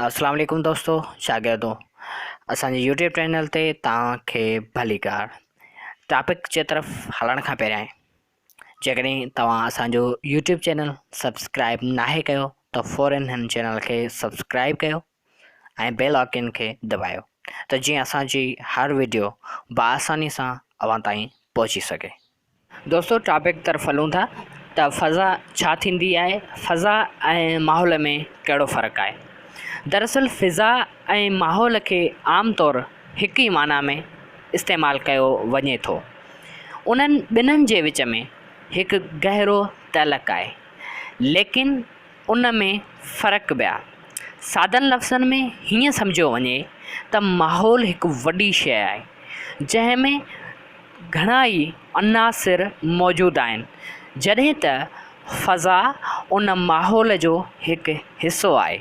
اسلام عليڪم دوستو شاگردو اسان جي يوٽيوب چينل تي توهان کي ڀلي ڪار ٽاپڪ جي طرف هلڻ کان پهريائين جيڪڏهن توهان اسان جو يوٽيوب چينل سبسڪرائب ناهي ڪيو ته فورن هن چينل کي سبسڪرائب ڪيو ۽ بيل آئڪن کي دٻايو ته جيئن اسان جي هر ويڊيو بآساني سان اوهان تائين پهچي سگهي دوستو ٽاپڪ طرف هلون ٿا ته فضا ڇا ٿيندي آهي فضا ۽ ماحول ۾ ڪهڙو فرق آهي دراصل فضا ۽ ماحول کي عام طور هڪ ئي معنيٰ ۾ استعمال ڪيو وڃي ٿو انهن ٻنهن جي وچ ۾ هڪ گهرو تعلق آهي ليڪن ان ۾ فرق ٻيا سادن لفظن ۾ هيئن سمجهيو وڃي ته ماحول هڪ وڏي شيء آهي جنهن ۾ گهڻا ئي عناصر موجود آهن جڏهن ته فضا ان ماحول جو هڪ حصو آهي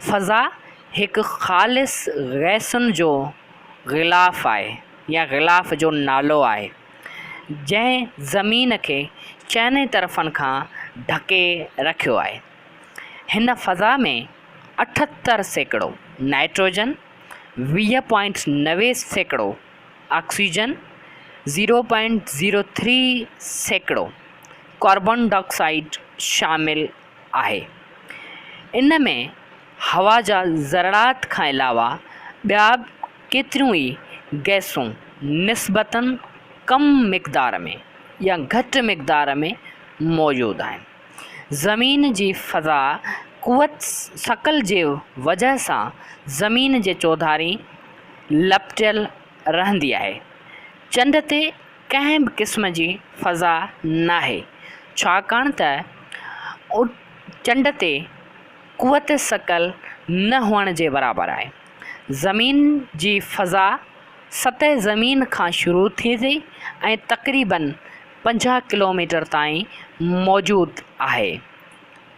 فضا هڪ خالص گئسن جو غلاف آهي يا غلاف جو نالو آهي جنهن زمين کي چئني طرفن کان ڍڪي رکيو آهي. هن فضا ۾ اٺهتر سيڪڙو نائٽروجن، ويهه پوائنٽ نوي سيڪڙو oxygen, zero point zero three سيڪڙو ڪاربان ڊاء آڪسائيڊ شامل آهي. ان ۾ هوا جا ذرڙات کان علاوه ٻيا ڪيتريون ئي گئسون نسبتاً ڪم مقدار ۾ يا گهٽ مقدار ۾ موجود آهن. زمين جي فضا قوت ثقل جي وجهه سان زمين جي چوڌارين لپٽيل رهندي آهي. چنڊ تي ڪنهن به قسم جي فضا ناهي، ڇاڪاڻ ته چنڊ تي قوت ثقل نه هئڻ جي برابر آهي. زمين جي فضا سطح زمين کان شروع ٿئي ٿي ۽ تقريباً پنجاهه ڪلوميٽر تائين موجود آهي.